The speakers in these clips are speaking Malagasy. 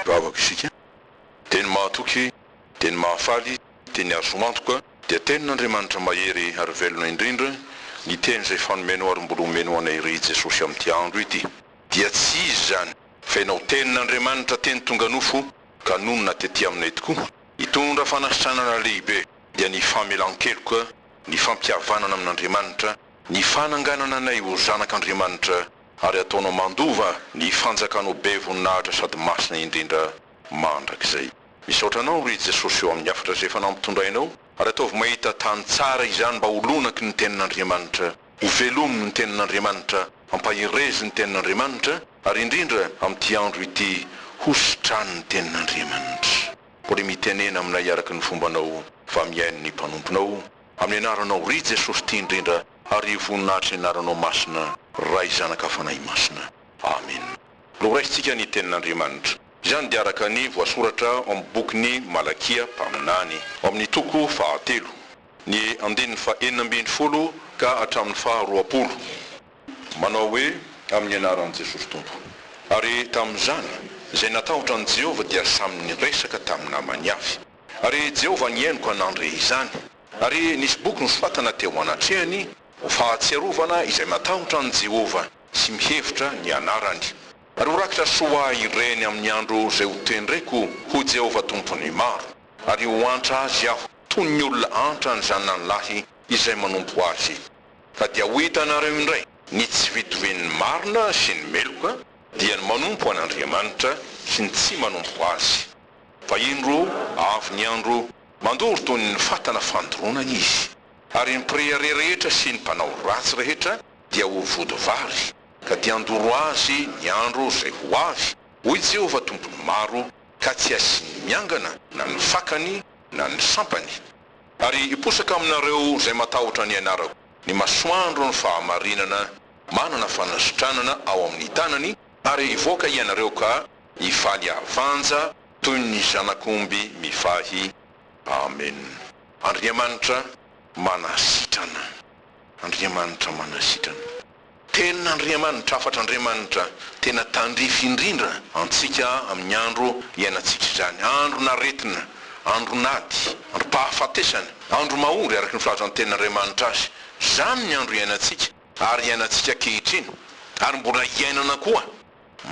Vavaka isika, dia ny mahatoky, dia ny mahafaly, dia ny azo antoka, dia Tenin'Andriamanitra mahery ary velona indrindra, ny Teny izay fanomeno ary mbola homeno anay irery i Jesosy amin'ity andro ity. Dia tsy izy izany, fa ianao Tenin'Andriamanitra teny tonga nofo ka nonina tetỳ aminay tokoa, hitondra fanasitranana lehibe, dia ny famelan-keloka, ny fampihavanana amin'Andriamanitra, Ny fananganana anay ho zanak' Andriamanitra ary ataonao mandova ny fanjakanao be voninahitra sady masina indrindra mandrakizay. Misaotra anao ry Jesosy eo amin'ny hafatra izay efa nampitondrainao ary ataovy mahita tany tsara izany mba ho lonaky ny tenin' Andriamanitra, ho velomin' ny tenin' Andriamanitra, ampaherezin' ny tenin' Andriamanitra ary indrindra amin'ity andro ity hositran' ny tenin' Andriamanitra. Mbola mitenena aminay araka ny fombanao fa mihaino ny mpanomponao. Amin'ny anaranao ry Jesosy tia indrindra ary io voninahitry ny anaranao masina Ray Zanaka Fanahy Masina Amen. Noraisintsika ny tenin'Andriamanitra. Izany dia araka ny voasoratra ao amin'ny bokin'i Malakia mpaminany, ao amin'ny toko fahatelo, ny andininy faha enina ambin'ny folo ka hatramin'ny faha roapolo, manao hoe, Amin'ny anaran'i Jesosy Tompo. Ary tamin'izany, izay natahotra an'i Jehovah dia samy niresaka tamin'ny namany avy. Ary Jehovah nihainoka nandre izany. Ary nisy boky nosoratana teo anatrehany, ho fahatsiarovana izay matahotra an'i Jehovah sy mihevitra ny anarany. Ary ho rakitra soa ho ahy ireny amin'ny andro izay hotendreko ho Jehovah Tompon'ny maro, ary ho antra azy aho, toy ny olona antra ny zanany lahy izay manompo azy. Ka dia ho hitanareo indray ny tsy fitovian'ny marina sy ny meloka, dia ny manompo an'Andriamanitra sy ny tsy manompo azy. Vahiny roa avy niandro. Mandoro toy ny fatana fandoronana izy. Ary ny mpirehareha rehetra sy ny mpanao ratsy rehetra dia ho vody vary, ka dia handoro azy ny andro izay ho avy, hoy Jehovah Tompon'ny maro, ka tsy hasiany miangana na ny fakany na ny sampany. Ary hiposaka aminareo izay matahotra ny anarako, ny masoandron'ny fahamarinana, manana fanasitranana ao amin'ny tanany, Ary hivoaka hianareo ka hifaly havanja toy ny zanak'omby mivahy. Amen. Andriamanitra manasitrana. Andriamanitra manasitrana. Tenin'Andriamanitra, hafatr'Andriamanitra tena tandrify indrindra antsika amin'ny andro iainantsika izany, andron'aretina, andron'ady, androm-pahafatesana, andro mahory araka ny filazan'ny tenin'Andriamanitra azy. Izany ny andro iainantsika. ary iainantsika ankehitriny, ary mbola hiainana koa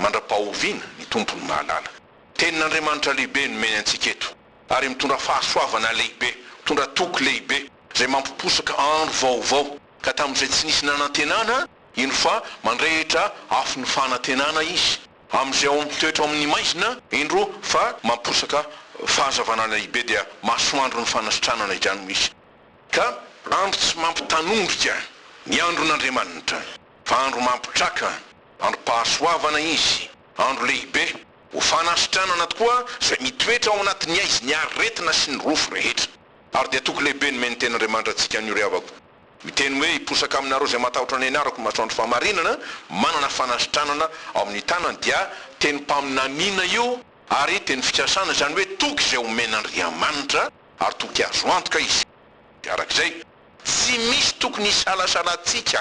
mandra-pahoviana, ny Tompo no mahalala. Tenin'Andriamanitra lehibe nomeny antsika eto, ary mitondra fahasoavana lehibe, mitondra toky lehibe, izay mampiposaka andro vaovao, ka tamin'izay tsy nisy nanantenana, eny fa mandrehitra afon'ny fanantenana Izy, amin'izay ao amin'ny toetra ao amin'ny maizina, indro fa mamposaka fahazavana lehibe, dia masoandron'ny fanasitranana izany hoy Izy. Ka andro tsy mampitanondrika ny andron'Andriamanitra, fa andro mampitraka, androm-pahasoavana izy, andro lehibe, ho fanasitranana tokoa izay mitoetra ao anatin'ny aizy ny aretina sy ny rofy rehetra. Ary dia toky lehibe nomen'ny Tenin'Andriamanitra antsika an'io ry havako. Miteny hoe, Hiposaka aminareo izay matahotra ny Anarako ny masoandro fahamarinana, manana fanasitranana ao amin'ny tanany, dia tenim-paminaniana io ary tenim-fikasana, izany hoe toky izay omen'Andriamanitra ary tokony azo antoka izy. Araka izay, tsy misy tokony hisalasalantsika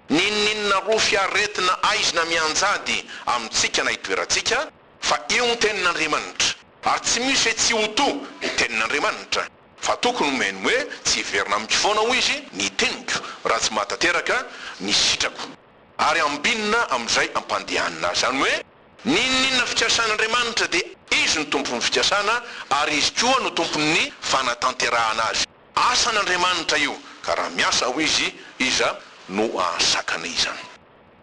n'inon'inona rofy aretina aizina mianjady amintsika na itoerantsika, fa io ny Tenin'Andriamanitra, ary tsy misy hoe tsy ho toa ny Tenin'Andriamanitra, fa tokony homeny hoe tsy hiverina amiko foana, hoy Izy, ny teniko, raha tsy mahatanteraka ny sitrako, ary hambinina amin'izay ampandehanina azy, izany hoe, N'inon'inona fikasan'Andriamanitra dia Izy no Tompon'ny fikasana ary Izy koa no Tompon'ny fanatanterahana azy. Asan'Andriamanitra io ka raha miasa ao Izy, iza no hahasakana izany?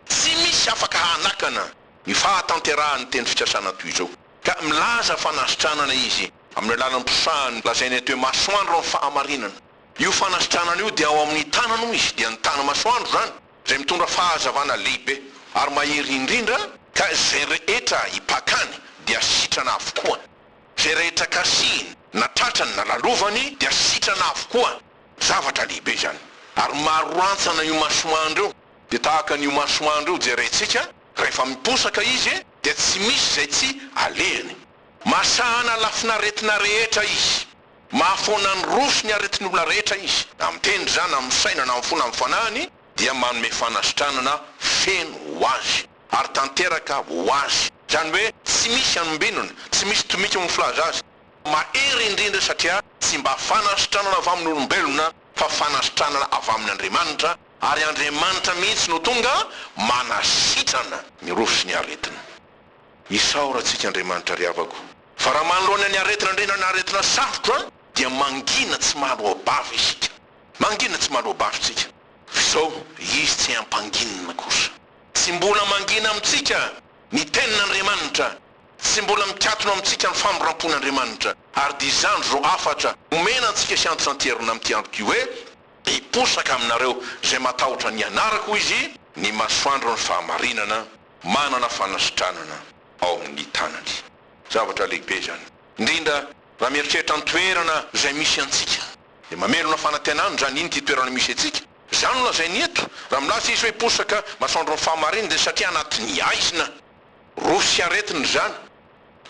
Tsy misy afaka hanakana ny fahatanterahan'ny teny fikasana toy izao. Ka milaza fanasitranana Izy amin'ny alalan'ny mpisahany lazainy eto hoe masoandro amin'ny fahamarinana. Io fanasitranana io dia ao amin'ny tanany hoy Izy, dia ny tany masoandro izany. Izay mitondra fahazavana lehibe ary mahery indrindra. Ka izay rehetra ipakany dia sitrana avokoa. Izay rehetra kasihiny, na tratrany, na lalovany, dia sitrana avokoa. Zavatra lehibe izany. Ary maro rantsana io masoandro io. Dia tahaka an'io masoandro io jerentsika, rehefa miposaka izy, dia tsy misy izay tsy alehany. Masahana lafin'aretina rehetra izy. Mahafoana ny roso ny aretin'olona rehetra izy, amin'ny teny ry za na amin'ny saina na amin'ny fo na amin'ny fanahiny dia manome fanasitranana feno ho azy ary tanteraka ho azy, izany hoe tsy misy anombinona, tsy misy tomika miflaza azy. Mahery indrindra satria tsy mba fanasitranana avy amin'olombelona fa fanasitranana avy amin'Andriamanitra ary Andriamanitra mihitsy no tonga manasitrana ny roso sy ny aretina. Isaora antsika Andriamanitra ry havako. Fa raha manoloana ny aretina andriana na aretina sarotra dia mangina tsy mahaloa-bava isika. Mangina tsy mahaloa-bava isika. Fa izao, Izy tsy hampanginina kosa. Tsy mbola mangina amintsika ny Tenin'Andriamanitra, tsy mbola mikatona amintsika ny famindram-pon'Andriamanitra. Ary dia izany izao hafatra omena antsika sy antsan-tserina amin'ity andro ity hoe, Hiposaka aminareo izay matahotra ny anarako, hoy Izy, ny masoandron'ny fahamarinana. manana fanasitranana ao amin'ny tanany. Zavatra lehibe izany, indrindra raha mieritreritra ny toerana izay misy antsika. Dia mamelona fanantenana izany iny ity toerana misy antsika. Izany no lazainy eto, raha milaza izy hoe posaka masoandro ny fahamarinana dia satria anatin'ny haizina, rofy sy aretina izany.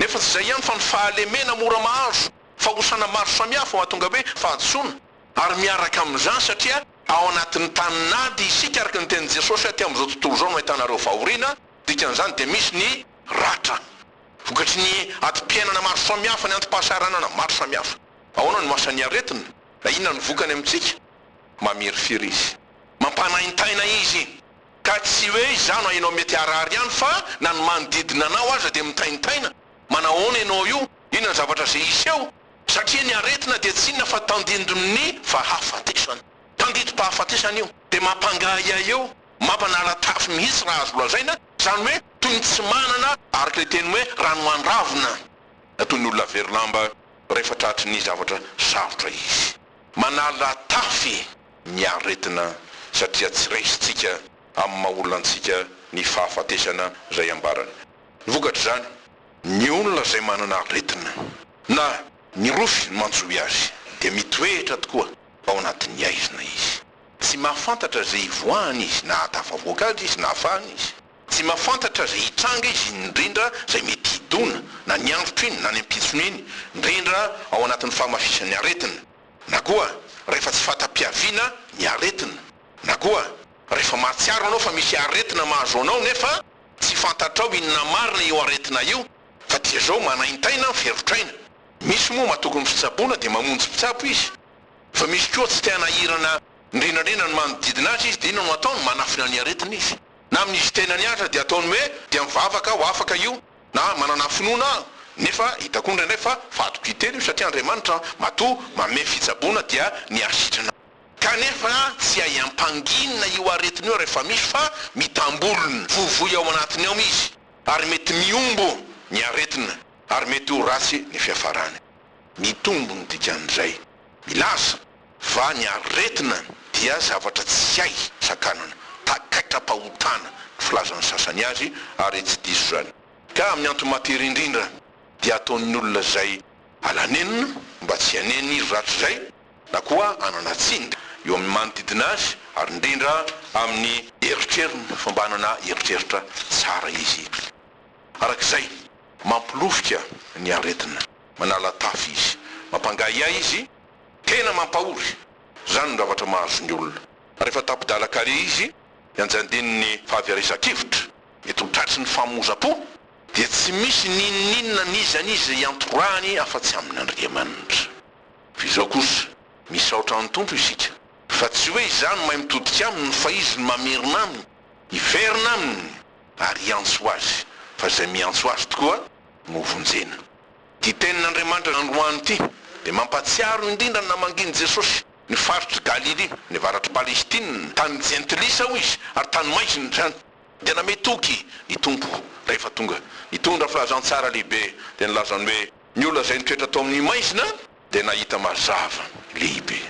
Nefa tsy izay ihany fa ny fahalemena mora mahazo, fahosana maro samihafa mahatonga hoe fahadisoana, ary miaraka amin'izany satria Ao anatin'ny tany nady isika araka ny tenin'i Jesosy aty amin'izao tontolo izao no ahitana ireo fahoriana, dikan'izany dia misy ny ratra. Vokatry ny adim-piainana maro samihafa, ny antom-pahasahiranana maro samihafa. Ahoana no asan'ny aretina? Na inona ny vokany amintsika? Mamirifiry izy. Mampanaintaina izy. Ka tsy hoe izaho na ianao mety harary ihany fa na ny manodidina anao aza dia mitaintaina. Manahoana ianao io? Inona ny zavatra izay hiseho? Satria ny aretina dia tsy inona fa tandindon'ny fahafatesana. Tandidim-pahafatesana io. Dia mampangahiahy eo, mampanaratafy mihitsy raha azo lazaina, izany hoe toy ny tsy manana, araka ilay teny hoe rano mandravona, na toy ny olona very lamba rehefa tratry ny zavatra sarotra izy. Manalatafy ny aretina satria tsy raisintsika amin'ny maha olona antsika ny fahafatesana izay ambarany. Ny vokatr'izany. ny olona izay manana aretina. Na, ny rofy no antsoy azy, dia mitoetra tokoa ao anatin'ny aizina izy. Tsy mahafantatra izay hivoahany izy na hahatafavoaka azy izy na hafahana izy. Tsy mahafantatra izay hitranga izy indrindra izay mety hidona, na ny androtro iny na ny ampitsony iny, indrindra ao anatin'ny fahamafisan'ny aretina, na koa rehefa tsy fahatapiaviana ny aretina, na koa rehefa mahatsiaro ianao fa misy aretina mahazo anao nefa Tsy fantatrao inona marina io aretina io fa dia zao manaintaina an ferotraina. Misy moa matoky ny fitsaboana dia mamonjy mpitsabo izy. Fa misy koa tsy te hanahirana indrindrandrindra ny manodidina azy izy dia inona no ataony manafina ny aretina izy. Na amin izy tenany aza dia ataony hoe dia mivavaka aho afaka io na manana finoana aho nefa hitako indraindray fa vadiko hiteny io satria Andriamanitra matoa manome fitsaboana dia ny asitrana Kanefa tsy hay ampanginina io aretina io rehefa misy fa mitambolona. Voavoy ao anatiny ao izy ary mety mihombo ny aretina ary mety ho ratsy ny fiafarany. Mitombo ny dikan'izay milaza fa ny aretina dia zavatra tsy hay sakanana, takaitra-pahotana ny filazan'ny sasany azy ary tsy diso izany. Ka amin'ny antomatery indrindra dia ataon'ny olona izay alanenina mba tsy hanena izy rahatrizay. na koa hanana tsiny eo amin'ny manodidina azy ary indrindra amin'ny. Eritreriny fa mba hanana eritreritra tsara izy araka izay. Mampilofika ny aretina. Manala tafy izy. Mampangahiahy izy. Tena mampahory. Izany no zavatra mahazo ny olona. Rehefa tapi-dalan-kaleha izy. Ny anjandininy fahaverezan-kevitra. Mety ho tratry ny famohozam-po. Dia tsy misy n'inon'inona n'iza n'iza iantorahany afa-tsy amin'Andriamanitra. Iza kosa? Misaotra an'ny Tompo isika fa tsy hoe izaho no mahay mitodika aminy fa Izy no mamerina aminy hiverina aminy ary hiantso azy fa izay miantso azy tokoa no hovonjena. Ity tenin'Andriamanitra nandroahany ity dia mampahatsiaro indrindra ny namangian'i Jesosy ny faritr'i Galilia, ny avaratr'i Palestina, tany jentilisa hoy Izy ary tany maizina izany dia namehy toky ny Tompo rehefa tonga. Nitondra filazantsara lehibe dia nilazany hoe. Ny olona izay nitoetra tao amin'ny maizina dia nahita mazava lehibe.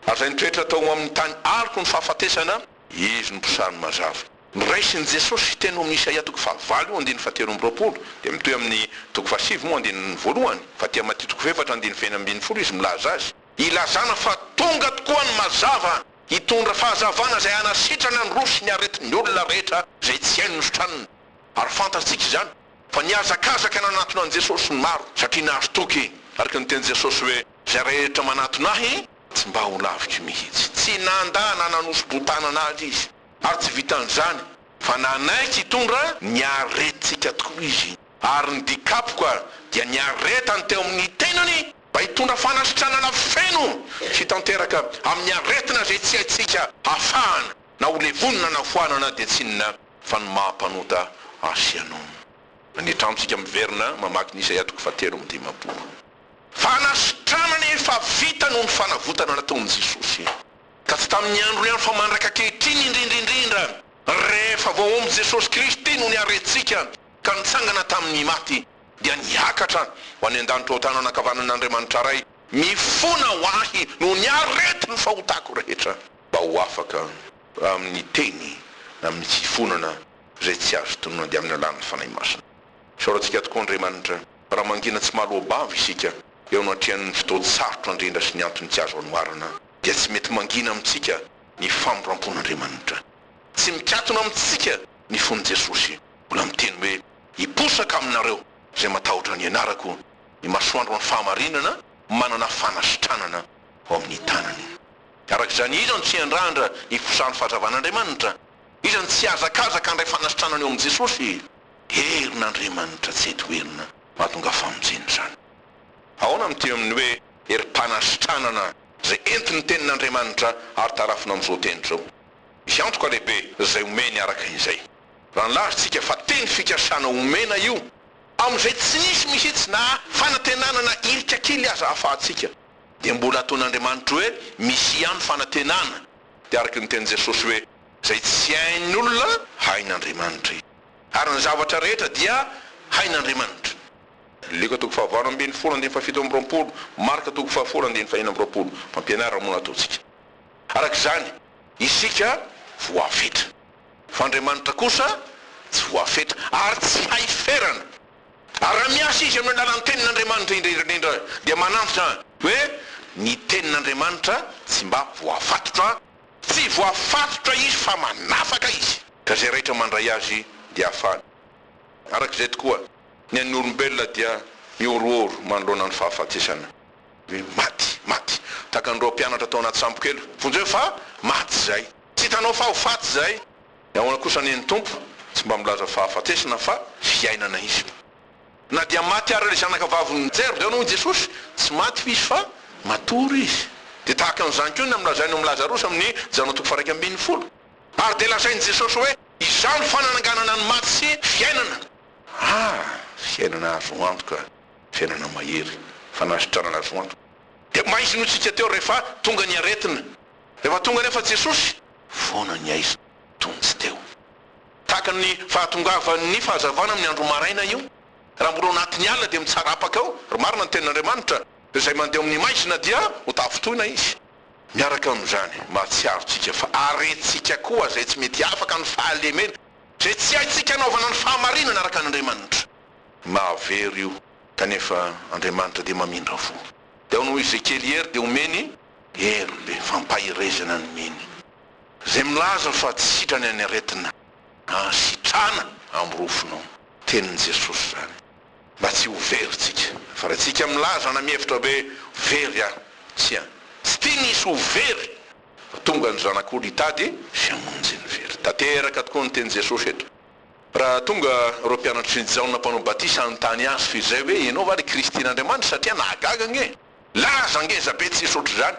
Ary izay nitoetra tao amin'ny tany aloky ny fahafatesana, izy no mpisary ny mazava. Ny raisin'i Jesosy teny ao amin'ny Isaia toko fahavalo andininy fahatelo amby roapolo dia mitohy amin'ny toko fahasivy moa andininy voalohany, fa aty amin'ny Matia toko fahefatra andininy fahefatra ambin'ny folo izy milaza azy, ilazana fa tonga tokoa ny mazava hitondra fahazavana izay hanasitrana ny rohy sy ny aretin'ny olona rehetra izay tsy haino ny sotraniny. Ary fantatsika izany Fa nihazakazaka nanatona an'i Jesosy ny maro, satria nahazo toky, araka ny tenin'i Jesosy hoe, Izay rehetra manatona Ahy, tsy mba ho laviko mihitsy. Tsy nandà na nanoso-boa-tanana Azy Izy, ary tsy vitan'izany, fa nanaiky hitondra ny aretintsika tokoa Izy, ary ny dikapoka dia ny aretany teo amin'ny tenany, mba hitondra fanasitranana feno sy tanteraka amin'ny aretina izay tsy haintsika hafahana, na ho levonina na foanana dia tsinona Fa ny maha mpanota ahy sy ianao. Ny tranontsika miverina mamaky ny Isaia toko fahatelo amby dimampolo. Fanasitranana efa vita noho ny fanavotana nataon'i Jesosy. Ka tsy tamin'ny androny ihany fa mandrak'ankehitriny indrindra indrindra, rehefa vao omby Jesosy Kristy no niarentsika ka nitsangana tamin'ny maty, dia niakatra ho any an-danitra ao tanana ankavanan'Andriamanitra Ray, mifona ho ahy noho ny aretin'ny fahotako rehetra, mba ho afaka. amin'ny teny na amin'ny fifonana izay tsy azo tononina dia amin'ny alalan'ny Fanahy Masina. Isaorantsika tokoa Andriamanitra raha mangina tsy mahaloa-bava isika eo anatrehan'ny fotoan-tsarotra andrendra sy ny antony tsy azo anoarana dia tsy mety mangina amintsika ny famindrampon'Andriamanitra. Tsy mikatona amintsika ny fon'i Jesosy, mbola miteny hoe, Hiposaka aminareo izay matahotra ny anarako, ny masoandron'ny fahamarinana manana fanasitranana ao amin'ny tanany. Araka izany, iza no tsy hiandrandra ny fizahan'ny fahazavan'Andriamanitra? Iza no tsy hihazakazaka handray fanasitranana eo amin'i Jesosy? Herin'Andriamanitra tsy hay toherina mahatonga famonjena izany. Ahoana ny teny amin'ny hoe herim-panasitranana izay entin'ny Tenin'Andriamanitra ary tarafina amin'izao teny izao? Misy antoka lehibe izay omeny araka izay. Raha nilaza isika fa teny fikasana omena io, amin'izay tsy nisy mihitsy na fanantenana na hirika kely aza ahafahantsika dia mbola ataon'Andriamanitra hoe misy ihany fanantenana. Dia araka ny tenin'i Jesosy hoe, izay tsy hain'ny olona, hain'Andriamanitra izy. Ary ny zavatra rehetra dia hain'Andriamanitra. Lioka toko fahavalo ambin'ny folo andininy fahafito amby roapolo, Marka toko fahafolo andininy faheno amby roapolo. Fampianarana moa no ataontsika. Araka izany, isika voafetra. Fa Andriamanitra kosa tsy voafetra, ary tsy hay ferana. Ary raha miasa izy amin'ny alalan'ny Tenin'Andriamanitra indrindra dia manantitra hoe ny Tenin'Andriamanitra tsy mba voafatotra. Tsy voafatotra izy fa manafaka izy. Ka izay raitra mandray azy dia hafahana. Araka izay tokoa, ny an'ny olombelona dia mihorohoro manoloana ny fahafatesana. Hoe maty, maty. Tahaka an'ireo mpianatra tao anaty sambo kely. Vonjeo fa maty izay. Tsy hitanao fa ho faty izay. Ny ahoana kosa anie ny Tompo tsy mba milaza fahafatesana fa fiainana Izy. Na dia maty ary ilay zanaka vavin'i Jerda hono i Jesosy, tsy maty hoy izy fa matory izy. Dia tahaka an'izany koa ny amin'ny lazainy momba Lazarosy amin'ny Jaona toko faha-iraika ambin'ny folo. Ary dia lazain'i Jesosy hoe, Izaho no fanananganana ny maty sy fiainana. Ah! Fiainana azo antoka, fiainana mahery, fanasitranana azo antoka. Dia mba izy no hitsiky teo rehefa tonga ny aretina. Rehefa tonga anefa Jesosy, foana ny aiza tony tsy teo. Tahaka ny fahatongavan'ny fahazavana amin'ny andro maraina io, raha mbola ao anatin'ny alina dia mitsara apaka ao, raha marina ny tenin'Andriamanitra, izay mandeha ao amin'ny maizina dia ho tafintohina izy. Miaraka amin'izany, mahatsiaro tsika fa aretintsika koa izay tsy mety afaka ny fahalemena, izay tsy haintsika anaovana ny fahamarinana araka an'Andriamanitra. Mahavery io, kanefa Andriamanitra dia mamindra fo. Dia hoy Ezekiely, Hery dia omeny, Hery be fampaherezana ny mino zay milaza fa tsy sitrany any aretina a! Sitrana am rofonao! Tenin'i Jesosy zany mba tsy ho very tsika fa raha tsika milaza na mihevitra hoe ho very aho, tsia tsy tiany hisy ho very fa tonga ny Zanak'olo hitady sy hamonjy ny very. Tanteraka tokoa ny tenin'i Jesosy eto raha tonga ireo mpianatry ny Jaona mpanao batisa hanontany azy fa izay hoe ianao va le Kristin'Andriamanitra satria nahagaga ange. Laza ngeza be tsisy ohatr'izany.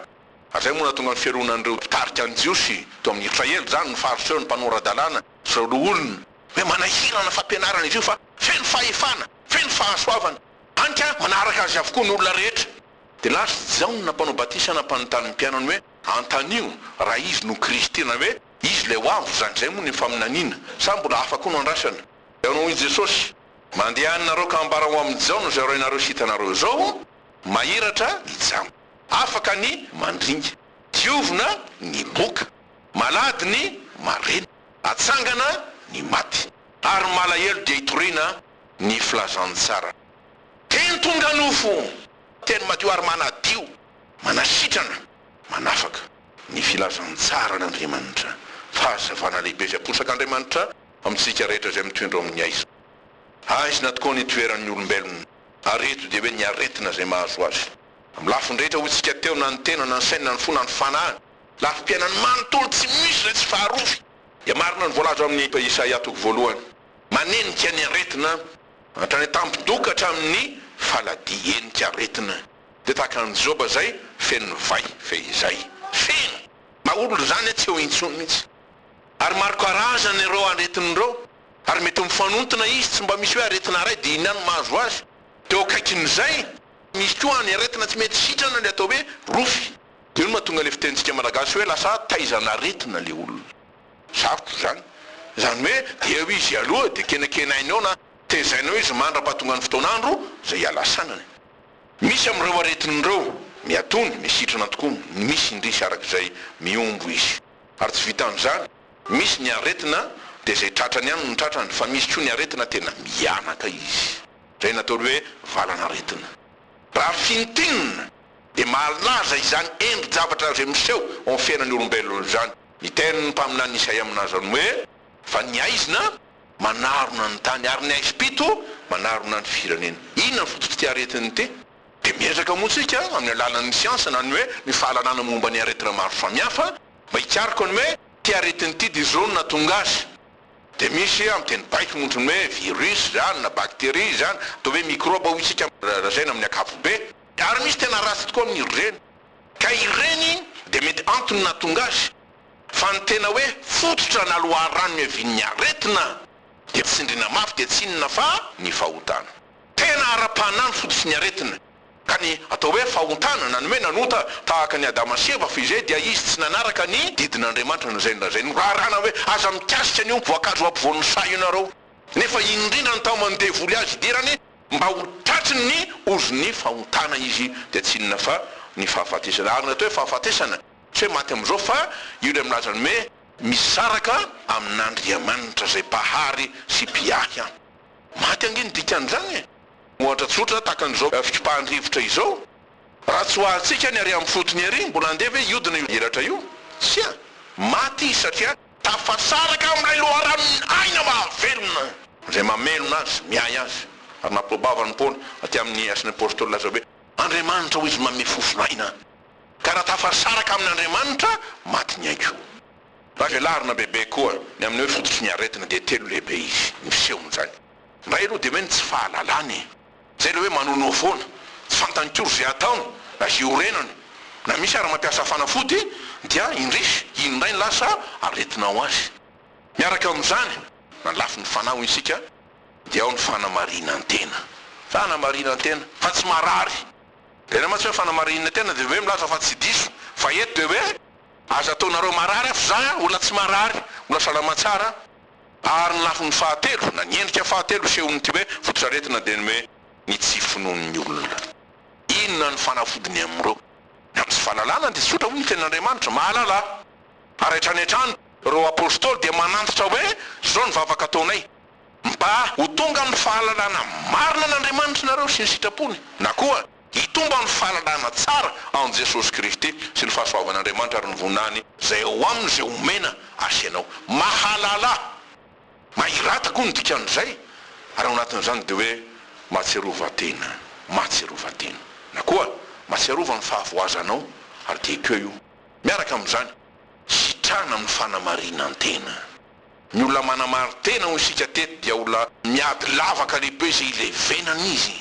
Avy moa nahatonga ny fialonan'ireo mpitarika ny Jiosy teo amin'ny Israely izany ny Fariseo, ny mpanora-dalàna sy ireo loholona. Hoe manahirana fampianarana izy io fa feno fahefana, feno fahasoavana. Hany ka manaraka azy avokoa ny olona rehetra. Dia laza i Jaona mpanao batisa nampanontany ny mpianany hoe, Antanio raha izy no Kristy, na hoe izy ilay ho avy, izany indray moa ny faminaniana, sa mbola hafa koa no andrasana? Dia hoy Jesosy, Mandeha any nareo ka ambara ho amin'i Jaona izay horainareo sy hitanareo izao. Mahiratra ny jamba. Afaka ny mandringa. Diovina ny moka. Malady ny marena. Atsangana ny maty. Ary malahelo dia itoriana ny filazantsara. Teny tonga nofo. Teny madio ary manadio. Manasitrana, manafaka. Ny filazantsaran'Andriamanitra. Fahazavana lehibe izay aposak'Andriamanitra amintsika rehetra izay mitoindra ao amin'ny haizina. Haizina tokoa ny itoeran'ny olombelona. Ary eto dia hoe ny aretina izay mahazo azy. Amin'ny lafiny rehetra hoy tsika teo, na ny tena, na ny sainy, na ny fo, na ny fanahiny. Lafim-piainany manontolo tsy misy izay tsy faharovy. Dia marina ny voalaza ao amin'ny Isaia toko voalohany. Manenika ny aretina hatrany an-tampi-doha ka hatramin'ny faladi, henika aretina. Dia tahaka an'i Joba izay feno vay, fehizay. Feno! Maha olona izany tsy eo intsony mihitsy. Ary maro karazana ireo aretina ireo. Ary mety mifanontona izy, tsy mba misy hoe aretina iray dia inona no mahazo azy? Dia eo akaikin'izay, misy koa ny aretina tsy mety sitrana, ilay atao hoe rofy. Dia io no mahatonga ilay fitenintsika malagasy hoe lasa taizan'aretina ilay olona. Sarotra izany. Izany hoe dia eo izy aloha, dia kenakenaina eo na tezaina eo izy mandra-pahatongan'ny fotoan'andro izay ialasanany. Misy amin'ireo aretina ireo, miatono, misy sitrana tokoa, ny misy indrisy araka izay mihombo izy. Ary tsy vitan'izany. Misy ny aretina dia izay tratrany ihany no tratrany fa misy koa ny aretina tena mihanaka izy. Izay nataony hoe valan'aretina. Raha fintinina dia mahalaza izany endri-javatra izay miseho ao amin'ny fiainan'ny olombelona izany ny tenin'ny mpaminany Isaia milaza ny hoe, Fa ny haizina manarona ny tany ary ny haizim-pito manarona ny firenena. Inona ny fototr'ity aretina ity? Dia miezaka moa isika amin'ny alalan'ny siansa na ny hoe ny fahalalana momba ny aretina maro samihafa, Mba hikaroka ny hoe ity aretina ity dia izao no nahatonga azy. Dia misy amin'ny teny baiko montro ny hoe virus izany na bacterie izany, atao hoe microbe hoy isika raha lazaina amin'ny ankapobe. Ary misy tena ratsy tokoa amin'ireny. Ka ireny dia mety antony nahatonga azy. Fa ny tena hoe fototra na loharano niavian'ny aretina dia tsindriana mafy dia tsy inona fa ny fahotana. Tena ara-panahy ny fototry ny aretina. Ka ny atao hoe fahontanana, ny hoe nanota tahaka an'i Adama sy Eva, fa izay dia izy tsy nanaraka ny didin'Andriamanitra na izay na izay. Norarana hoe aza mikasika an'io voankazo ampovoan'ny saha io nareo. Nefa iny indrindra no taoman'ny devoly azy hidirany mba ho tratry ny ozon'ny fahontana izy dia tsy inona fa ny fahafatesana. Ary ny atao hoe fahafatesana, tsy hoe maty amin'izao fa io ilay milaza ny hoe misaraka amin'Andriamanitra izay Mpahary sy Mpiahy an. Maty ange ny dikan'izany e! Ohatra tsotra tahaka an'izao fikipahan-drivotra izao, raha tsy ho ahatsika ny arian'ny fotony ery, mbola handeha ve hiodina io elatra io? Tsia! Maty izy satria. Tafasaraka amin'ilay loharanon'ny aina mahavelona. Izay mamelona azy, miahy azy. Ary nampiboabavan'i Paoly, aty amin'ny Asan'ny Apôstôly laza hoe, Andriamanitra hoy izy manome fofon'aina. Ka raha tafasaraka amin'Andriamanitra, maty ny aiko. Raha velarina bebe koa ny amin'ny hoe fototry ny aretina dia telo lehibe izy, miseho amin'izany. Ndray aloha dia hoe ny tsy fahalalany e! Zay ilay hoe manonoa foana, tsy fantany akory izay hataony na izay horenany, na misy ary mampiasa fanafody dia indrisy iny indray no lasa aretina ho azy. Miaraka amin'izany, na ny lafiny fanahy hoy isika dia ao ny fanamarinan-tena. Fanamarinan-tena fa tsy marary. Ilaina mantsy hoe fanamarinina tena dia hoe milaza fa tsy diso, fa eto dia hoe aza ataonareo marary aho f'zah olona tsy marary, olona salama tsara. Ary ny lafiny fahatelo, na ny endrika fahatelo isehon'ity hoe fototr'aretina dia ny hoe ny tsy finoan'ny olona. Inona ny fanafodiny amin'ireo? Ny amin'ny tsy fahalalana dia tsotra hoy ny Tenin'Andriamanitra, Mahalala Ahy. Ary hatrany hatrany ireo Apostoly dia manantitra hoe izao ny vavaka ataonay, Mba ho tonga amin'ny fahalalana marina an'Andriamanitra ianareo sy ny sitrapony, na koa, Hitombo amin'ny fahalalana tsara an'i Jesosy Kristy sy ny fahasoavan'Andriamanitra ary ny voninahiny izay ao aminy izay omena Azy ianao. Mahalala Ahy. Mahirata koa ny dikan'izay ary ao anatin'izany dia hoe mahatsiarovan-tena, mahatsiarovan-tena. Na koa mahatsiarova ny fahavoazanao ary dia ekeo io. Miaraka amin'izany, sitrana amin'ny fanamarinan-tena. Ny olona manamarin-tena hoy isika teto dia olona miady lavaka lehibe izay ilevenan'izy.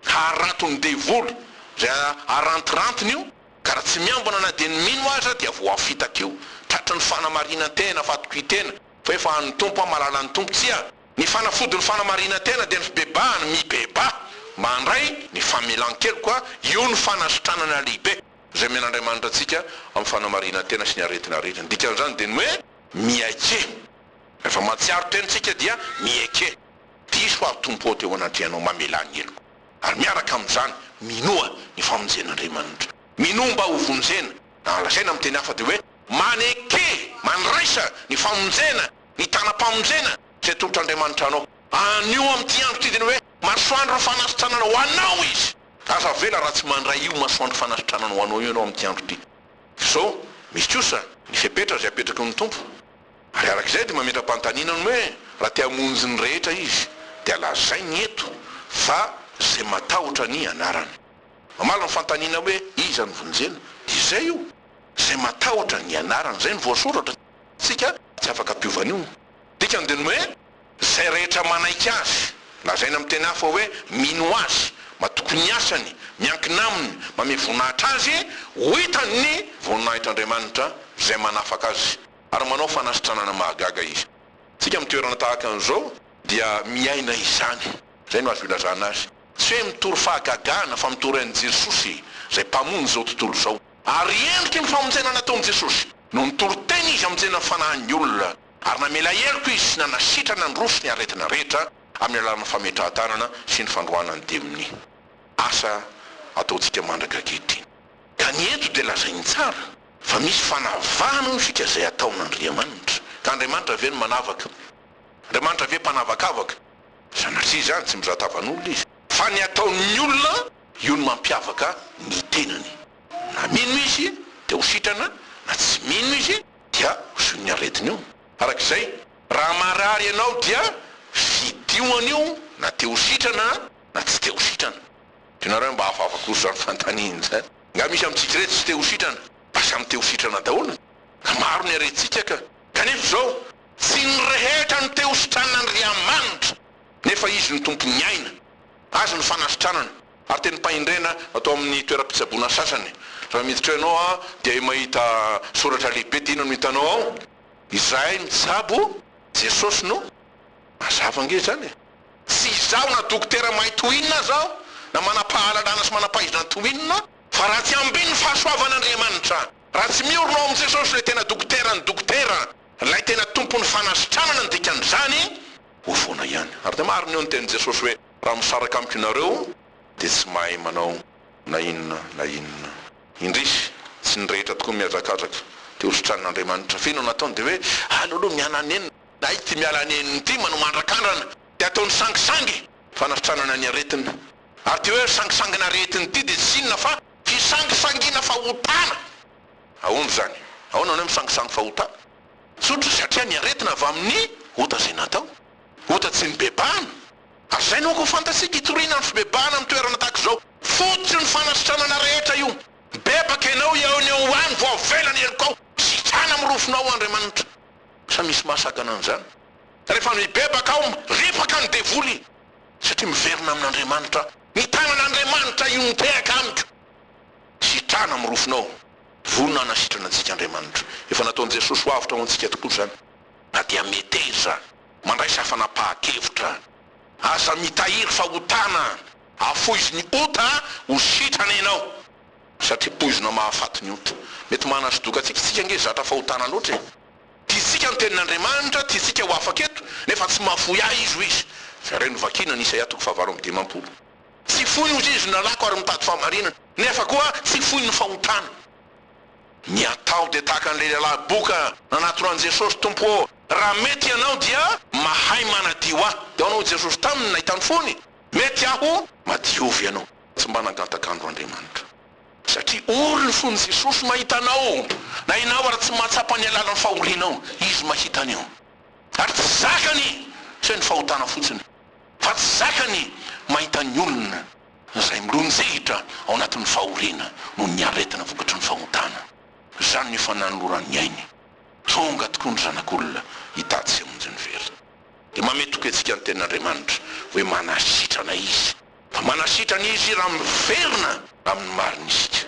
Haraton'ny devoly izay arantirantiny io, ka raha tsy miambina na dia ny mino aza dia voafitaka io. Tratry ny fanamarinan-tena, fatokian-tena, fa efa an'ny Tompo aho, malala ny Tompo, tsia, ny fanafody ny fanamarinan-tena dia ny fibebahana, mibebaha, mba handray ny famelan-keloka, io no fanasitranana lehibe izay omen'Andriamanitra antsika amin'ny fanamarinan-tena sy ny aretina rehetra, ny dikan'izany dia ny hoe miaiky. Rehefa mahatsiaro teny isika dia miaiky. Diso aho Tompo ô teo anatrehanao mamelà ny heloko ary miaraka amin'izany minoa ny famonjena Andriamanitra minoa mba ho vonjena na lazaina amin'ny teny hafa dia hoe maneke mandraisa ny famonjena ny tanam-pamonjena izay tolotr'Andriamanitra anao anio amin'ity andro ity dia ny hoe masoandro fanasitranana ho anao izy aza avela raha tsy mandray io masoandro fanasitranana ho anao io ianao amin'ity andro ity fa izao misy kosa ny fepetra izay apetraky ny Tompo. Ary araka izay dia mametra-panontaniana ny hoe raha te hamonjy ny rehetra izy dia lazainy eto fa izay matahotra ny anarany. Mamaly ny fanontaniana hoe iza no vonjena dia izay io izay matahotra ny anarany izay no voasoratra, isika tsy afaka ampiova an'io. Dikany dia ny hoe izay rehetra manaiky azy, lazaina amin'ny teny hafa hoe mino azy, matoky ny asany, miankina aminy, mamehy voninahitra azy, ho hitan'ny voninahitr'Andriamanitra izay manafaka azy. ary manao fanasitranana mahagaga izy. Isika amin'ny toerana tahaka an'izao dia miaina izany. Izay no azo ilazana azy. Tsy hoe mitory fahagagana fa mitory an'i Jesosy izay Mpamonjy izao tontolo izao. Ary endriky ny famonjena nataon'i Jesosy no nitory teny izy hamonjena ny fanahin'ny olona, ary namela heloka izy sy nanasitrana nandroso ny aretina rehetra amin'ny alalan'ny fametrahan-tanana sy ny fandroahana ny demonia. Asa ataontsika mandraka ankehitriny. Ka ny eto dia lazainy tsara. Fa misy fanavahana hoy isika izay ataon'Andriamanitra. Ka Andriamanitra ve no manavaka? Andriamanitra ve mpanavakavaka? Sanatria izany, tsy mizà tavan'olona Izy. Fa ny ataon'ny olona, io no mampiavaka ny tenany. Na mino izy, dia ho sitrana, na tsy mino izy, dia ho zohin'ny aretina io. Araka izay, raha marary ianao, dia fidio an'io, na te-ho sitrana, na tsy te-ho sitrana. Tianareo mba hahafahafako izany fanontaniana izany? Nga misy amintsika ireto tsy te ho sitrana? Fa samy te ho sitrana daholo ka maro ny harentsika ka! Kanefa izao, tsy ny rehetra no te ho sitranina Andriamanitra, nefa Izy no Tompon'ny aina, Azy no fanasitranana. Ary tenim-pahendrena atao amin'ny toeram-pitsaboana sasany. Raha miditra ao ianao dia mahita soratra lehibe dia inona no hitanao ao? Izahay mitsabo Jesosy no Mazava ange izany e! Tsy izaho na dokotera mahay toy inona aza aho, na manam-pahalalana sy manam-pahaizana toy inona, fa raha tsy ambin'ny fahasoavan'Andriamanitra, raha tsy miorina ao amin'i Jesosy ilay tena dokoteran'ny dokotera, ilay tena tompon'ny fanasitranana ny dikan'izany, ho foana ihany. Ary dia marina eo ny tenin'i Jesosy hoe, Raha misaraka amiko ianareo, dia tsy mahay manao na inona na inona. Indrisy, tsy ny rehetra tokoa no mihazakazaka te-hositranina Andriamanitra. Ve no nataony dia hoe, Aleo aloha mihananenina. Na ity miala nenina ity manao mandrakandrana dia ataony sangisangy fanasitranana ny aretina. Ary ity hoe sangisangina aretina ity dia tsy inona fa fisangisangiana fahotana. Ahoana izany? Ahoana no hoe misangisangy fahotana? Tsotra, satria ny aretina avy amin'ny ota izay natao. Ota tsy nibebahana. Ary izay no aoka ho fantatsika, hitoriana ny fibebahana amin'ny toerana tahaka izao. Fototry ny fanasitranana rehetra io. Bebaka ianao eo ny ao ho any vao avela ny helokao. Sitrana amin'ny rofinao, Andriamanitra. Sa misy mahasakana an'izany? Rehefa mibebaka aho, ripaka ny devoly, satria miverina amin'Andriamanitra, ny tanan'Andriamanitra io mitehaka amiko. Sitrana mirofonao. Vonona hanasitrana antsika Andriamanitra. Efa nataon'i Jesosy ho avotra ho antsika tokoa izany. Na dia meteza, mandraisa fanapahan-kevitra. Aza mitahiry fahotana. Afoizo ny ota, ho sitrana ianao. Satria poizina mahafaty ny ota. Mety manasodoka antsika isika ange zatra fahotana loatra e! Tiantsika ny tenin'Andriamanitra, tiantsika ho afaka eto, nefa tsy mahafoy ahy izy, hoy izy. Jereo ny vakiana ny Isaia toko fahavalo amby dimampolo. Tsy foiny hoy izy ny lalàko ary mitady fahamarinana, nefa koa tsy foiny ny fahotana. Ny atao dia tahaka an'ilay lehilahy boka nanatona an'i Jesosy, Tompo ô, raha mety Ianao dia mahay manadio ahy. Dia ahoana hoy Jesosy taminy nahita ny fony? Mety aho, madiovy ianao. Tsy mba nangataka andro Andriamanitra. Satria ory ny fon'i Jesosy mahita anao, na ianao ary tsy mahatsapa ny alalan'ny fahorianao, Izy mahita an'io. Ary tsy zakany fe ny fahotana fotsiny, fa tsy zakany mahita ny olona izay milonjihitra ao anatin'ny fahoriana noho ny aretina vokatry ny fahotana. Izany no efa nanoloran'ny ainy. Tonga tokoa ny Zanak'olona hitady sy hamonjy ny very. Dia mamehy toky antsika ny tenin'Andriamanitra hoe manasitrana Izy. Fa manasitrana Izy raha miverina amin'ny marina isika.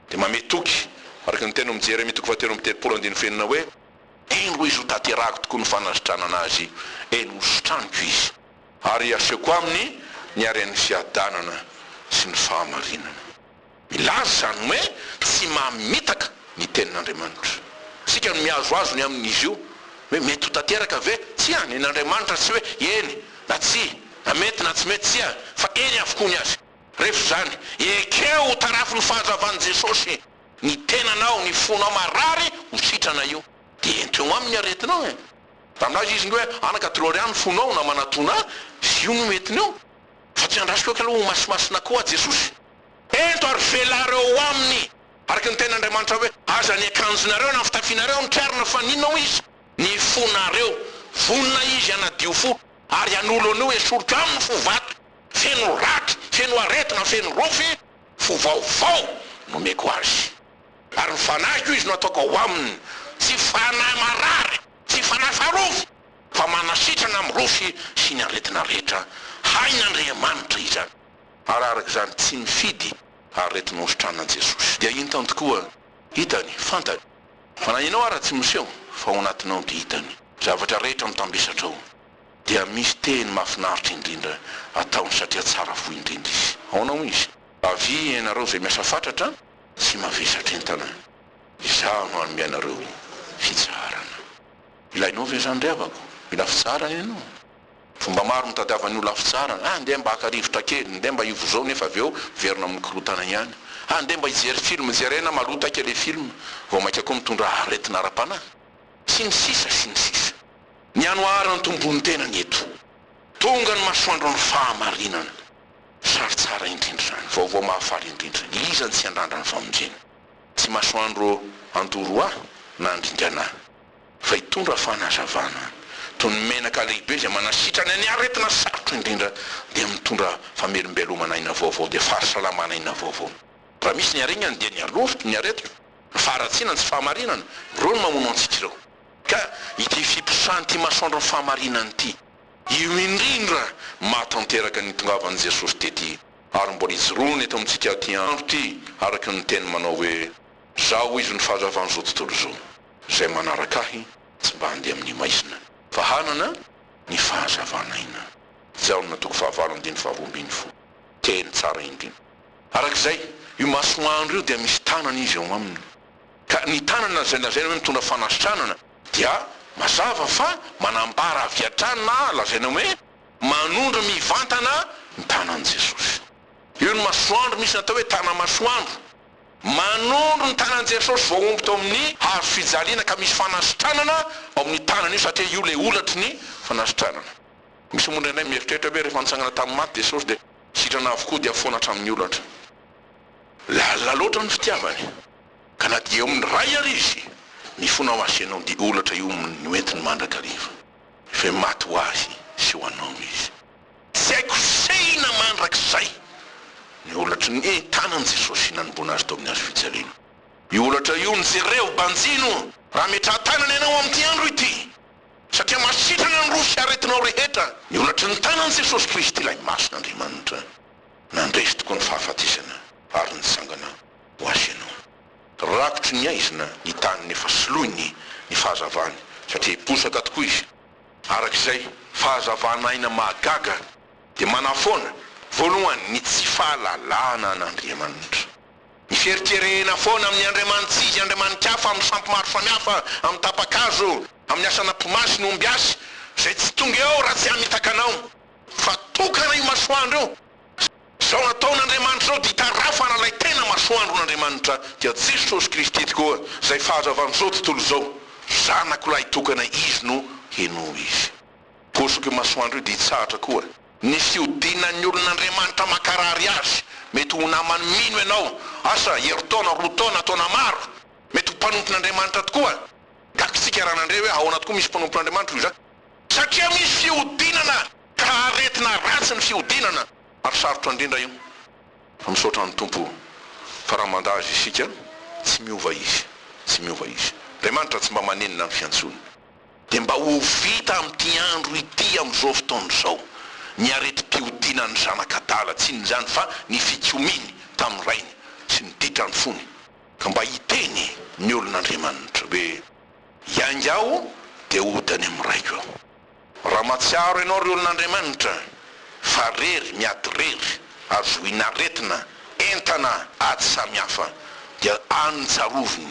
Dia mamehy toky, araka ny tenin'i Jeremia toko fahatelo amby telopolo andininy fenina hoe, Eny hoy Izy hotanterahako tokoa ny fanasitranana Azy, eny hositraniko Izy. Ary hasehoko aminy ny haren'ny fiadanana sy ny fahamarinana. Milaza izany hoe tsy mamitaka ny tenin'Andriamanitra. Isika no mihazohazo ny amin'izy io, hoe mety ho tanteraka ve? Tsia, nen'Andriamanitra tsy hoe eny na tsia, na mety na tsy mety, tsia, fa eny avokoa ny azy. Rehefa izany, ekeo ho tarafin'ny fahazavan'i Jesosy ny tenanao, ny fonao marary ho sitrana io, dia ento eo aminy ny aretinao e! Raha milaza izy indray hoe ana-katrory ahy ny fonao na manatona ahy, io no mety ny eo, fa tsy andrasoko eky aloha ho masimasina koa aho Jesosy. Ento ary velareo ao aminy, araka ny tenin'Andriamanitra hoe, Aza ny akanjonareo na ny fitafianareo nikarina, fa n'inona hoy izy? Ny fonareo. Vonona izy hanadio fo, ary hanolo an'io esoriko aminy fo vato, feno raky, feno aretina, feno rofy, fo vaovao nomeko azy. Ary ny fanahiko izy no hataoko ao aminy, tsy fanahy marary, tsy fanahy faharofy, fa manasitrana amin'ny rofy sy ny aretina rehetra, hain'Andriamanitra izany. ary araka izany tsy mifidy aretina hosotranin'i Jesosy. Dia intany tokoa, hitany, fantany, fa na ianao ara tsy miseho fa ao anatinao dia hitany zavatra rehetra mitambesatrao, dia misy teny mahafinaritra indrindra ataony satria tsara fo indrindra izy. Aonao izy. Avia ianareo izay miasa fatratra sy mavesatra entana, izaho no hanome anareo fitsaharana. Ilainao ve izany ry havako? Mila fitsaharana ianao? Fomba maro mitadiavan'ny olona fitsarana, andeha mba haka rivotra kely, ndeha mba hivozao nefa avy eo miverina amin'ny korontana ihany. Andeha mba hijery film jerena malotaika ilay film, vao mainka koa mitondra aretina ara-panahy. Sy ny sisa sy ny sisa. Ny anoharan'ny tompo ny tenany eto. Tonga ny masoandron'ny fahamarinana. Sary tsara indrindra izany, vaovao mahafaly indrindra. Iza no tsy handrandra ny famonjena? Tsy masoandro an-toroha na an-dringana. fa hitondra fanazavana toy ny menaka lehibe izay manasitrana ny aretina sarotra indrindra dia mitondra famelombelomana aina vaovao dia fahasalaman aina vaovao raha misy ny aregnany dia ny aloto ny aretina ny faharatsiana ny tsy fahamarinana ireo no mamono antsika ireo ka ity fiposahan ity masoandro ny fahamarinana ity io indrindra mahatanteraka ny itongavan i Jesosy tety ary mbola ijoroany eto amintsika ity andro ity araka ny teniny manao hoe zao hoy izy no fahazavan izao tontolo izao. Izay manaraka ahy tsy mba handeha amin'ny maizina, fa hanana ny fahazavana aina. Jaona toko fahavalo andininy faharoa ambin'ny folo. Teny tsara indrindra. Araka izay, io masoandro io dia misy tanana izy ao aminy. Ka ny tanana izay lazaina hoe mitondra fanasitranana dia mazava fa manambara avy hatrany na lazaina hoe manondro mivantana ny tanan'i Jesosy. Io ny masoandro misy natao hoe tana-masoandro. Manondro ny tanan'i Jesosy voahombo teo amin'ny hazo fijaliana ka misy fanasitranana ao amin'ny tanany io satria io ilay holatry ny fanasitranana. Misy moa indraindray mieritreritra hoe rehefa nitsangana tamin'ny maty Jesosy dia sitrana avokoa dia foana hatramin'ny holatra. Lalina loatra ny fitiavany ka na dia eo amin'ny Ray ary izy, mifona ho azy sy ianao dia holatra io no entiny mandrakariva. Efa maty ho ahy sy ho anao izy. Tsy hay kosehina mandrakizay ny holatry ny tanan'i Jesosy nanomboana azy teo amin'ny hazo fijaliana. Io holatra io no jerevo banjino raha metraha-tanana ianao amin'ity andro ity, satria masitrana ny rohy sy aretinao rehetra ny holatry ny tanan'i Jesosy Kristy ilay Masin'Andriamanitra. Nandresy tokoa ny fahafatesana ary nitsangana ho Azy ianao. Rakotry ny aizina ny tany nefa soloiny ny fahazavany, satria hiposaka tokoa izy. Araka izay fahazavana aina mahagaga dia manafoana, voalohany, ny tsy fahalalana an' Andriamanitra. Ny fieritrereena foana amin' ny andriamanitsyizy andriamanikafa amin' ny sampy maro samihafa, amin' ny tapa-kazo, amin' ny asan' ampomasy ny ombiasy, izay tsy tonga eo raha tsy hamitaka anao, fa tokana io masoandro io, Zao nataon' Andriamanitra zao dia itarafana ilay tena masoandron' Andriamanitra dia Jesosy Kristy tokoa izay fahazavan' izao tontolo izao, Zanako lahitokana Izy no henoy Izy. Hosoka io masoandro io dia hitsahatra koa. Ny fiodinan' ny olon' Andriamanitra mankarary azy, mety ho namany mino ianao, asa, herintaona, roa taona, taona maro, mety ho mpanompon' Andriamanitra tokoa, gaga isika raha nandre hoe ahoana tokoa misy mpanompon' Andriamanitra hoy za, satria misy fihodinana. Ka aretina ratsy ny fihodinana ary sarotra indrindra io fa misaotra ny Tompo fa raha mandà Azy isika tsy miova Izy tsy miova Izy. Andriamanitra tsy mba manenina ny fiantsoany. Dia mba ho vita amin'ity andro ity amin'izao fotoana izao ny aretim-pihodinan'ny zanak'adala tsy inon'izany fa ny fikomiany tamin'ny rainy sy ny ditrany fony. Ka mba hiteny ny olon'Andriamanitra hoe iainga aho dia hody any amin'ny raiko aho. Raha mahatsiaro ianao ry olon'Andriamanitra fa rery, miady rery, azoin' aretina, entana, ady samy hafa, dia any tsarovy.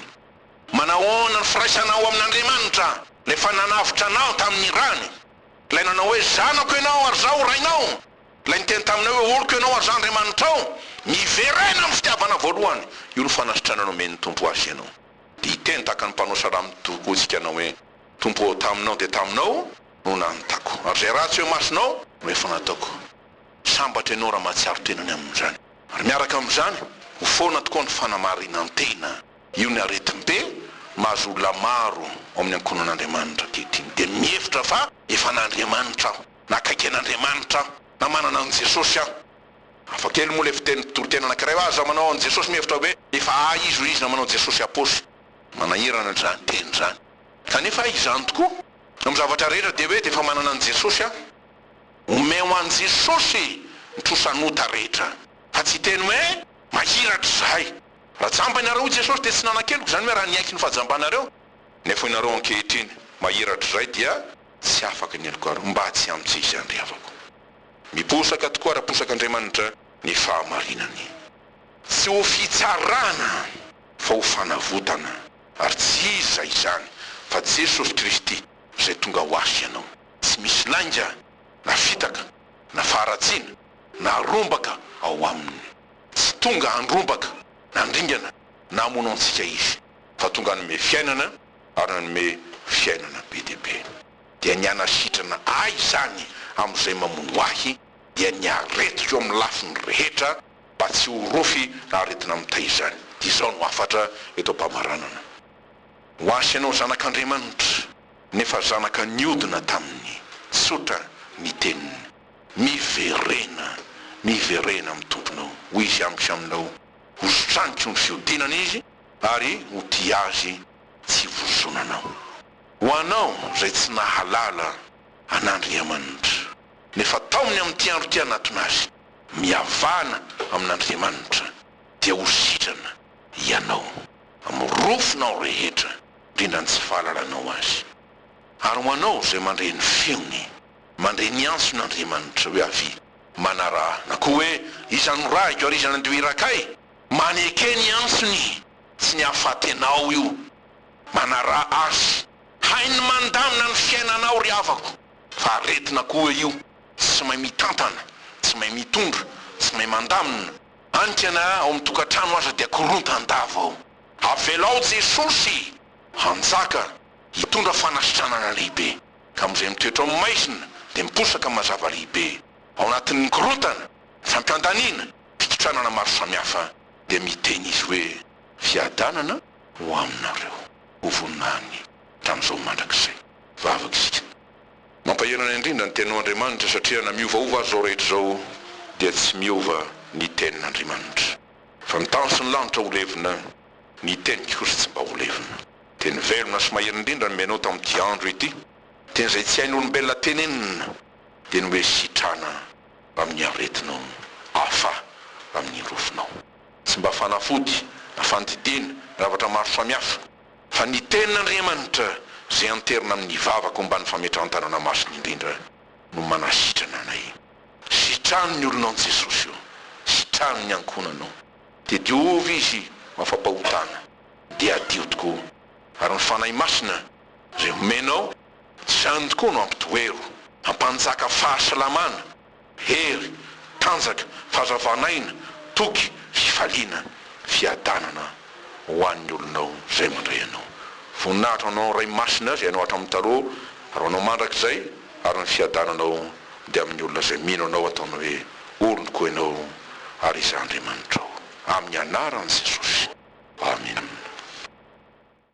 Manahoana ny firaisanao amin' Andriamanitra, Ilay efa nanavotra anao tamin' ny rany, Ilay nanao hoe, Zanako ianao, ary Izaho Rainao, Ilay niteny taminao hoe, Oloko ianao ary Izaho Andriamanitrao. Miverena amin' ny fitiavana voalohany. Io no fanasitranana omen' ny Tompo azy ianao. Dia hiteny tahaka ny mpanosra raha mitokotsika anao hoe, Tompo ô, taminao dia taminao no nanotako, ary izay ratsy eo imasonao no efa nataoko. Sambatra ianao raha mahatsiaro tena ny amin'izany. Ary miaraka amin'izany, ho foana tokoa ny fanamarinan-tena. Io ny aretim-pe mahazo olona maro ao amin'ny ankohonan'Andriamanitra ankehitriny, dia mihevitra fa efa an'Andriamanitra aho, na akaiky an'Andriamanitra aho, na manana an'i Jesosy aho. Hafa kely moa ilay fitenin'ny mpitoritena anankiray hoe aza manao an'i Jesosy mihevitra hoe efa ahy izy, hoy izy na manao Jesosy aposy. Manahirana izany teny izany. Kanefa izany tokoa no zavatra rehetra dia hoe dia efa manana an'i Jesosy aho. Omeo an'i Jesosy ny trosan'ota rehetra fa tsy hiteny hoe mahiratra izahay. Raha jamba ianareo hoy Jesosy dia tsy nanan-keloka izany hoe raha niaiky ny fahajambanareo nefa ianareo ankehitriny mahiratra izay dia tsy afaka ny helokareo mba tsy hamitsy izy handrevako. Miposaka tokoa ary aposak'Andriamanitra ny fahamarinany. Tsy ho fitsarana fa ho fanavotana. Ary tsy iza izany fa Jesosy Kristy izay tonga ho azy ianao. Tsy misy lainga na fitaka na faharatsiana na rombaka ao Aminy. Tsy tonga handrombaka na handringana na hamono antsika Izy, fa tonga hanome fiainana ary nanome fiainana be dia be. Dia ny hanasitrana ahy izany amin'izay mamono ahy dia ny aretiko amin'ny lafiny rehetra, mba tsy ho rofy raha aretina mitay izany. Izao no hafatra eto am-pamaranana. Ho ahy sy ianao zanak'Andriamanitra, nefa zanaka niodina taminy. Tsotra ny teniny. Miverena, miverena amin'ny Tomponao, hoy Izy amiko sy aminao. Hositraniko ny fihodinana Izy, ary ho tia Azy tsy vozonanao. Ho anao izay tsy nahalala an'Andriamanitra, nefa tao ny amin'ity andro ity hanatona Azy. Mihavana amin'Andriamanitra dia ho sitrana ianao amin'ny rofinao rehetra, indrindra ny tsy fahalalanao Azy. Ary ho anao izay mandre ny feony, mandre ny antson'Andriamanitra hoe avia, manaraha, na koa hoe iza no rahiko ary iza no handeha ho irakay? Maneke ny antsony, tsy ny hahafatenao io. Manaraha Azy. Hainy mandamina ny fiainanao ry havako, fa aretina koa io. Tsy mahay mitantana, tsy mahay mitondra, tsy mahay mandamina. Anika na ao amin'ny tokantrano aza dia korontan-dava ao. Avelao Jesosy hanjaka, hitondra fanasitranana lehibe. Ka amin'izay mitoetra ao amin'ny maizina dia miposaka mazava lehibe. Ao anatin'ny korontana, fampihantaniana, fitotranana maro samihafa dia miteny izy hoe, Fiadanana ho aminareo, ho voninahin'ny hatramin'izao mandrakizay. Vavaka isika. Mampahery anay indrindra ny teninao Andriamanitra satria na miovaova aza izao rehetra izao dia tsy miova ny tenin Andriamanitra. Fa ny tany sy ny lanitra ho levona, ny teniko kosa tsy mba ho levona. Teny velona sy mahery indrindra no menao tamin'ity andro ity. Teny izay tsy hain'olombelona tenenina. Dia nomey sitrana amin'ny aretinao, hafa amin'ny rofinao. Tsy mba fanafody na fandidiana na zavatra maro samihafa. Fa ny Tenin'Andriamanitra, izay anterina amin'ny vavako ambany fametrahan-tanana masina indrindra, no manasitrana anay. Sitraho ny olona an-Jesosy ô! Sitraho ny ankohonana ô! Dia diovy izy mafampahotana, dia hadio tokoa. Ary ny Fanahy Masina, izay omenao, tsy izany tokoa no hampitohero, hampanjaka fahasalamana. Hery, tanjaka, fahazavana aina, toky, fifaliana, fiadanana ho an'ny olonao izay mandray anao. Voninahitra ho anao Ray Masina izay anao hatramin'ny taloha ary ho anao mandrakizay ary ny fiadananao dia amin'ny olona izay mino anao ataony hoe olonko ianao ary izaho Andriamanitrao. Amin'ny anaran'i Jesosy. Amena.